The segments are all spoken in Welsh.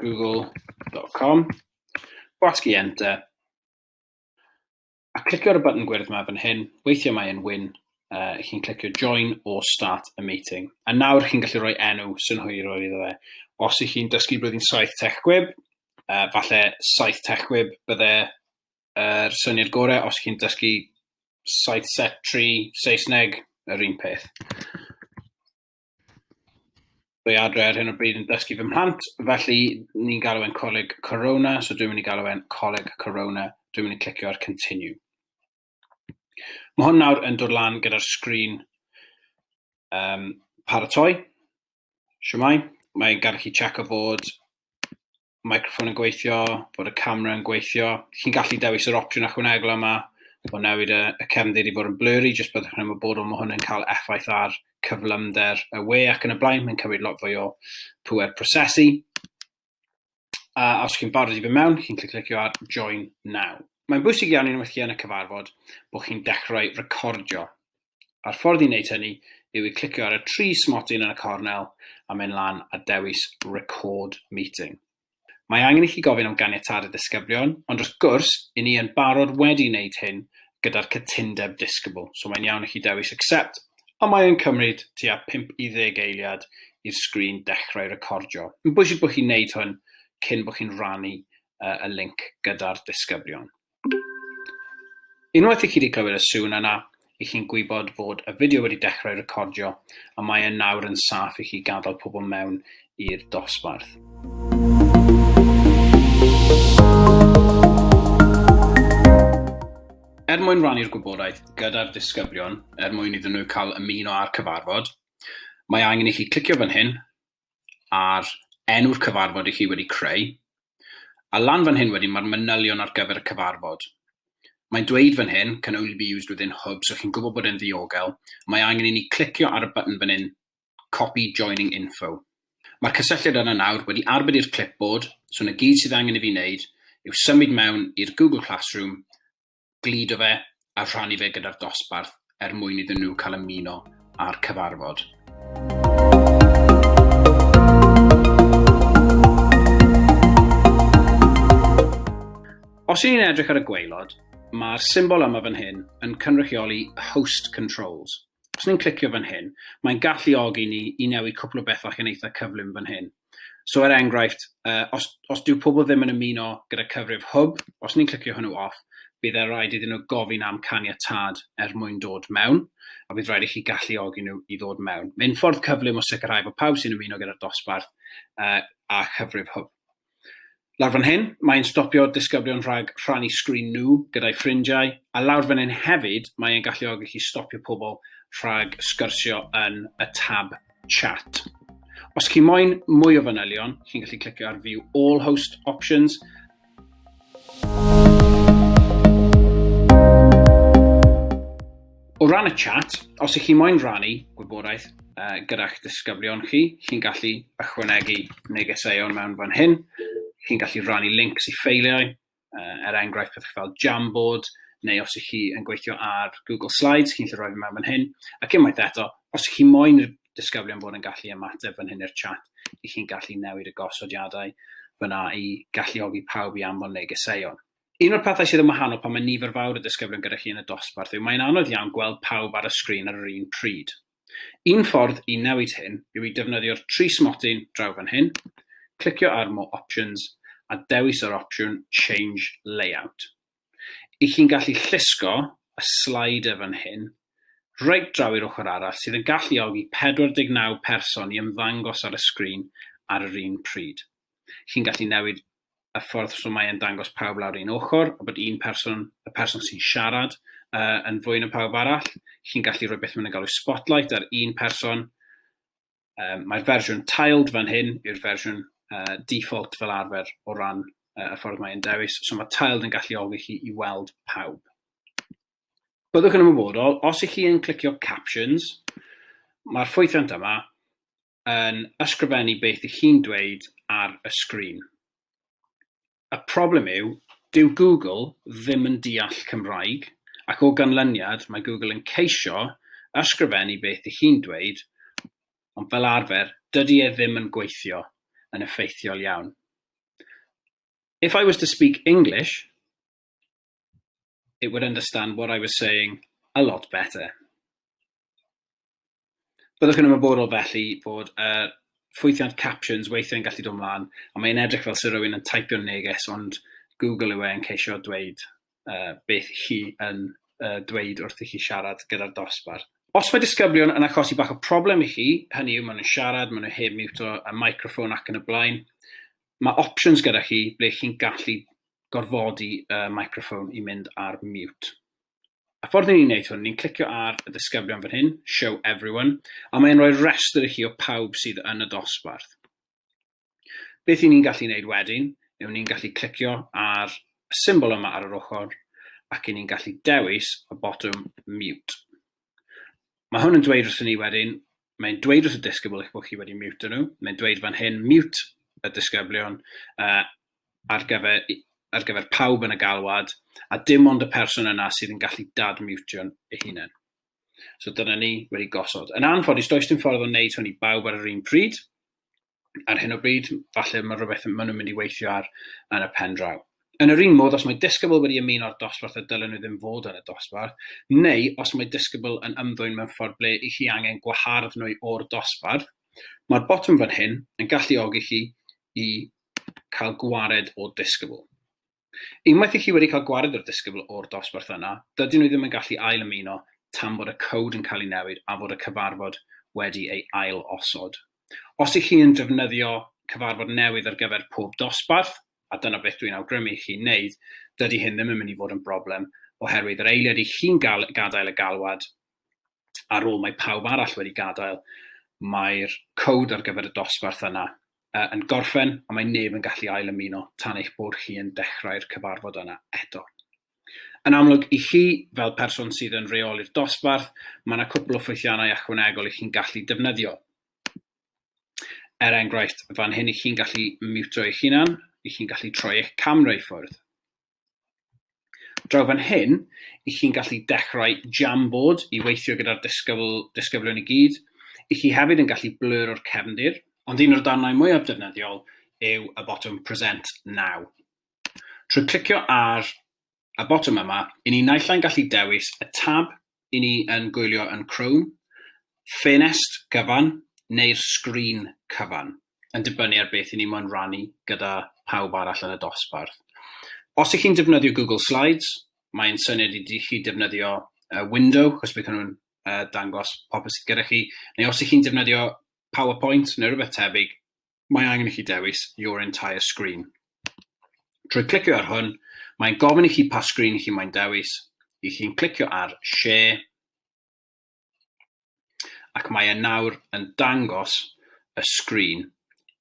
google.com, gwasgu enter, a clicio ar y button gwyrdd yma fan hyn, weithiau mae'n win, uh, chi'n clicio join or start a meeting. A nawr chi'n gallu rhoi enw synhwyrol iddo fe. Os ych chi'n dysgu blwyddyn 7 tech gwib, uh, falle 7 tech gwib bydde'r er syniad gorau. Os ych chi'n dysgu 7 set 3 Saesneg, yr un peth. Dwi adre ar hyn o bryd yn dysgu fy mhlant, felly ni'n galw e'n coleg Corona, so dwi'n mynd i galw e'n coleg Corona, dwi'n mynd i clicio ar continue. Mae hwn nawr yn dod lan gyda'r sgrin um, paratoi. Siwmai, mae'n gadw chi check o fod microffon yn gweithio, bod y camera yn gweithio. Chi'n gallu dewis yr opsiwn ychwanegol yma o newid y, y cefndir i fod yn blurry, jyst byddwch yn ymwybodol mae hwn yn cael effaith ar cyflymder y we ac yn y blaen, mae'n cymryd lot fwy o pwer prosesu. A os chi'n barod i fy mewn, chi'n clicio ar Join Now. Mae'n bwysig iawn i'n weithio yn y cyfarfod bod chi'n dechrau recordio. a'r ffordd i wneud hynny yw i clicio ar y tri smotyn yn y cornel a mynd lan a dewis Record Meeting. Mae angen i chi gofyn am ganiatâd y disgyblion, ond wrth gwrs, i ni yn barod wedi wneud hyn gyda'r cytundeb disgybl, so mae'n iawn i chi dewis Accept, a mae yn cymryd tua 5 i 10 eiliad i'r sgrin dechrau recordio. Yn bwysig bod chi'n wneud hwn cyn bod chi'n rannu y link gyda'r disgyblion. Unwaith i chi wedi clywed y sŵn yna, i chi'n gwybod fod y fideo wedi dechrau recordio a mae e nawr yn saff i chi gadael pobl mewn i'r dosbarth. Er mwyn rannu'r gwybodaeth gyda'r disgyblion, er mwyn iddyn nhw cael ymuno â'r cyfarfod, mae angen i chi clicio fan hyn a'r enw'r cyfarfod i chi wedi creu, a lan fan hyn wedyn mae'r manylion ar gyfer y cyfarfod. Mae'n dweud fan hyn, can only be used within hub, so chi'n gwybod bod e'n ddiogel. Mae angen i ni clicio ar y button fan hyn, copy joining info. Mae'r cysylltiad yna nawr wedi arbed i'r clipboard, so na gyd sydd angen i fi wneud yw symud mewn i'r Google Classroom gludo fe a rhannu fe gyda'r dosbarth er mwyn iddyn nhw cael ymuno â'r cyfarfod. Os y'n ni'n edrych ar y gweilod, mae'r symbol yma fan hyn yn cynrychioli host controls. Os ni'n clicio fan hyn, mae'n galluogi ni i newid cwpl o bethau chi'n eitha cyflym fan hyn. So er enghraifft, uh, os, os dyw pobl ddim yn ymuno gyda cyfrif hwb, os ni'n clicio hwnnw off, bydd e'n rhaid iddyn nhw gofyn am caniatad er mwyn dod mewn, a bydd rhaid i chi galluogi nhw i ddod mewn. Mae'n ffordd cyflym o sicrhau bod pawb sy'n ymuno gyda'r dosbarth uh, a chyfrif hwb. Lawr fan hyn, mae e'n stopio disgyblion rhag rhannu sgrin nhw gyda'i ffrindiau, a lawr fan hyn hefyd, mae e'n galluogi chi stopio pobl rhag sgyrsio yn y tab chat. Os chi moyn mwy o fanylion, chi'n gallu clicio ar View All Host Options, O ran y chat, os ych chi moyn rannu gwybodaeth uh, gyda'ch disgyblion chi, chi'n gallu ychwanegu negeseuon mewn fan hyn, chi'n gallu rannu links i ffeiliau, uh, er enghraifft pethau fel Jamboard, neu os ych chi yn gweithio ar Google Slides, chi'n gallu rhoi fe mewn fan hyn, ac unwaith eto, os ych chi moyn disgyblion bod yn gallu ymateb fan hyn i'r chat, i chi'n gallu newid y gosodiadau fyna i galluogi pawb i anfon negeseuon. Un o'r pethau sydd yn wahanol pan mae nifer fawr o ddisgyblion gyda chi yn y dosbarth yw mae'n anodd iawn gweld pawb ar y sgrin ar yr un pryd. Un ffordd i newid hyn yw i defnyddio'r tri smotyn draw fan hyn, clicio ar More Options a dewis yr opsiwn Change Layout. I chi'n gallu llusgo y slider fan hyn reit draw i'r ochr arall sydd yn galluogi 49 person i ymddangos ar y sgrin ar yr un pryd. Chi'n gallu newid y ffordd so mae'n dangos pawb lawr un ochr, a bod un person, y person sy'n siarad, uh, yn fwy na pawb arall. Chi'n gallu rhoi beth mae'n galw spotlight ar un person. Um, Mae'r fersiwn tiled fan hyn yw'r fersiwn uh, default fel arfer o ran uh, y ffordd mae'n dewis. So mae tiled yn gallu olwg chi i weld pawb. Byddwch yn ymwybodol, os ych chi yn clicio captions, mae'r ffwythiant yma yn ysgrifennu beth i chi'n dweud ar y sgrin. Y problem yw, dyw Google ddim yn deall Cymraeg, ac o ganlyniad mae Google yn ceisio ysgrifennu beth i chi'n dweud, ond fel arfer dydy e ddim yn gweithio yn effeithiol iawn. If I was to speak English, it would understand what I was saying a lot better. Byddwch yn ymwybodol felly bod y uh, ffwythiant captions weithiau'n gallu dod mlaen, a mae'n edrych fel sy'n rhywun yn taipio'n neges, ond Google yw e yn ceisio dweud uh, beth chi yn uh, dweud wrth i chi siarad gyda'r dosbarth. Os mae disgyblion yn achosi bach o problem i chi, hynny yw maen nhw'n siarad, maen nhw heb miwto y microffon ac yn y blaen, mae options gyda chi ble chi'n gallu gorfodi y uh, microphone i mynd ar mute. A ffordd ni'n gwneud hwn, ni'n clicio ar y disgyblion fan hyn, show everyone, a mae'n rhoi rhestr i chi o pawb sydd yn y dosbarth. Beth i ni'n gallu gwneud wedyn, yw ni'n gallu clicio ar y symbol yma ar yr ochr, ac i ni'n gallu dewis y botwm mute. Mae hwn yn dweud wrthyn ni wedyn, mae'n dweud wrth y disgybl eich bod chi wedi miwto nhw, mae'n dweud fan hyn mute y disgyblion uh, ar, gyfer, ar gyfer pawb yn y galwad, a dim ond y person yna sydd yn gallu dad-miwtio'n ei hunain. So dyna ni wedi gosod. Yn anffodus, does dim ffordd o wneud hwn i bawb ar yr un pryd, ar hyn o bryd, falle mae rhywbeth maen nhw'n mynd i weithio ar yn y pen draw. Yn yr un modd, os mae disgybl wedi ymuno â'r dosbarth y dylen nhw ddim fod yn y dosbarth, neu os mae disgybl yn ymddwyn mewn ffordd ble i chi angen gwahardd nhw o'r dosbarth, mae'r botwm fan hyn yn galluogi chi i cael gwared o disgybl. Unwaith i chi wedi cael gwared o'r disgybl o'r dosbarth yna, dydyn nhw ddim yn gallu ail ymuno tan bod y cowd yn cael ei newid a fod y cyfarfod wedi ei ail osod. Os i chi yn defnyddio cyfarfod newydd ar gyfer pob dosbarth, a dyna beth dwi'n awgrymu i chi wneud, dydy hyn ddim yn mynd i fod yn broblem oherwydd yr eiliad i chi'n gael gadael y galwad ar ôl mae pawb arall wedi gadael, mae'r cowd ar gyfer y dosbarth yna yn gorffen a mae neb yn gallu ail ymuno tan eich bod chi yn dechrau'r cyfarfod yna eto. Yn amlwg, i chi, fel person sydd yn reoli'r dosbarth, mae yna cwpl o ffwythiannau ychwanegol i chi'n gallu defnyddio. Er enghraifft, fan hyn i chi'n gallu miwtio eich hunan, i chi'n gallu troi eich camera i ffwrdd. Draw fan hyn, i chi'n gallu dechrau Jamboard i weithio gyda'r disgybl, disgyblion i gyd. I chi hefyd yn gallu blur o'r cefndir, ond un o'r darnau mwyaf defnyddiol yw y botwm Present Now. Trwy clicio ar y botwm yma, i ni naill ai'n gallu dewis y tab i ni yn gwylio yn Chrome, ffenest gyfan neu'r sgrin cyfan, yn dibynnu ar beth i ni moyn rannu gyda phawb arall yn y dosbarth. Os ych chi'n defnyddio Google Slides, mae'n syniad i chi defnyddio uh, window, chos bydd hwnnw'n uh, dangos popeth sydd gyda chi, neu os ych chi'n defnyddio PowerPoint neu rhywbeth tebyg, mae angen i chi dewis Your Entire Screen. Trwy clicio ar hwn, mae'n gofyn i chi pa sgrin i chi mae'n dewis, i chi'n clicio ar Share, ac mae e nawr yn dangos y sgrin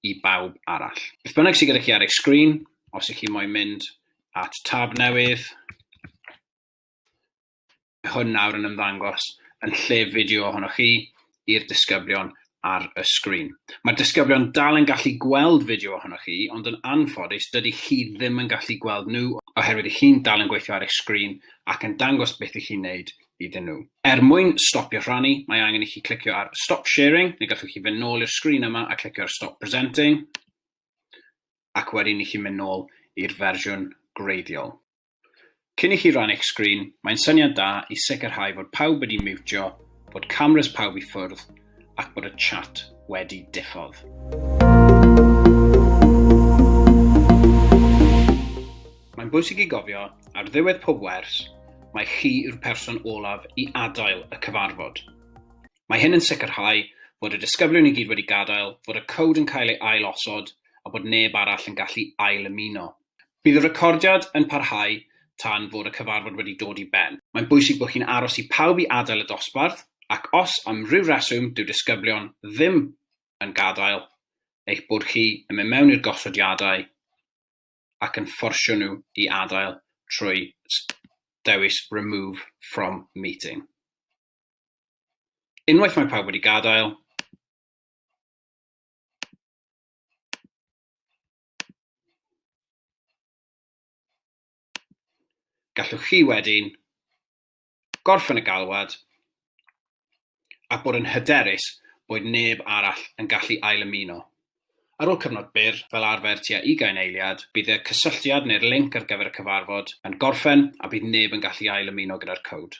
i bawb arall. Beth bynnag sydd gyda chi ar eich sgrin, os ych chi moyn mynd at tab newydd, hwn nawr yn ymddangos yn lle fideo ohonoch chi i'r disgyblion ar y sgrin. Mae'r disgyblion dal yn gallu gweld fideo ohonoch chi, ond yn anffodus dydy chi ddim yn gallu gweld nhw oherwydd i chi'n dal yn gweithio ar eich sgrin ac yn dangos beth i chi'n neud iddyn nhw. Er mwyn stopio rhannu, mae angen i chi clicio ar Stop Sharing, neu gallwch chi fynd nôl i'r sgrin yma a clicio ar Stop Presenting, ac wedyn i chi mynd nôl i'r fersiwn gwreiddiol. Cyn i chi rannu eich sgrin, mae'n syniad da i sicrhau fod pawb wedi miwtio, bod cameras pawb i ffwrdd ac bod y chat wedi diffodd. Mae'n bwysig i gofio, ar ddiwedd pob wers, mae chi yw'r person olaf i adael y cyfarfod. Mae hyn yn sicrhau fod y disgyblion i gyd wedi gadael, fod y cod yn cael ei ail-osod a bod neb arall yn gallu ail-ymuno. Bydd y recordiad yn parhau tan fod y cyfarfod wedi dod i ben. Mae'n bwysig bod chi'n aros i pawb i adael y dosbarth ac os am ryw reswm dyw disgyblion ddim yn gadael, eich bod chi yn mynd mewn i'r gosodiadau ac yn fforsio nhw i adael trwy dewis remove from meeting. Unwaith mae pawb wedi gadael, gallwch chi wedyn gorffen y galwad a bod yn hyderus bod neb arall yn gallu ailymuno. Ar ôl cyfnod byr, fel arfer tua ugain eiliad, bydd y cysylltiad neu'r linc ar gyfer y cyfarfod yn gorffen a bydd neb yn gallu ailymuno gyda'r cowd.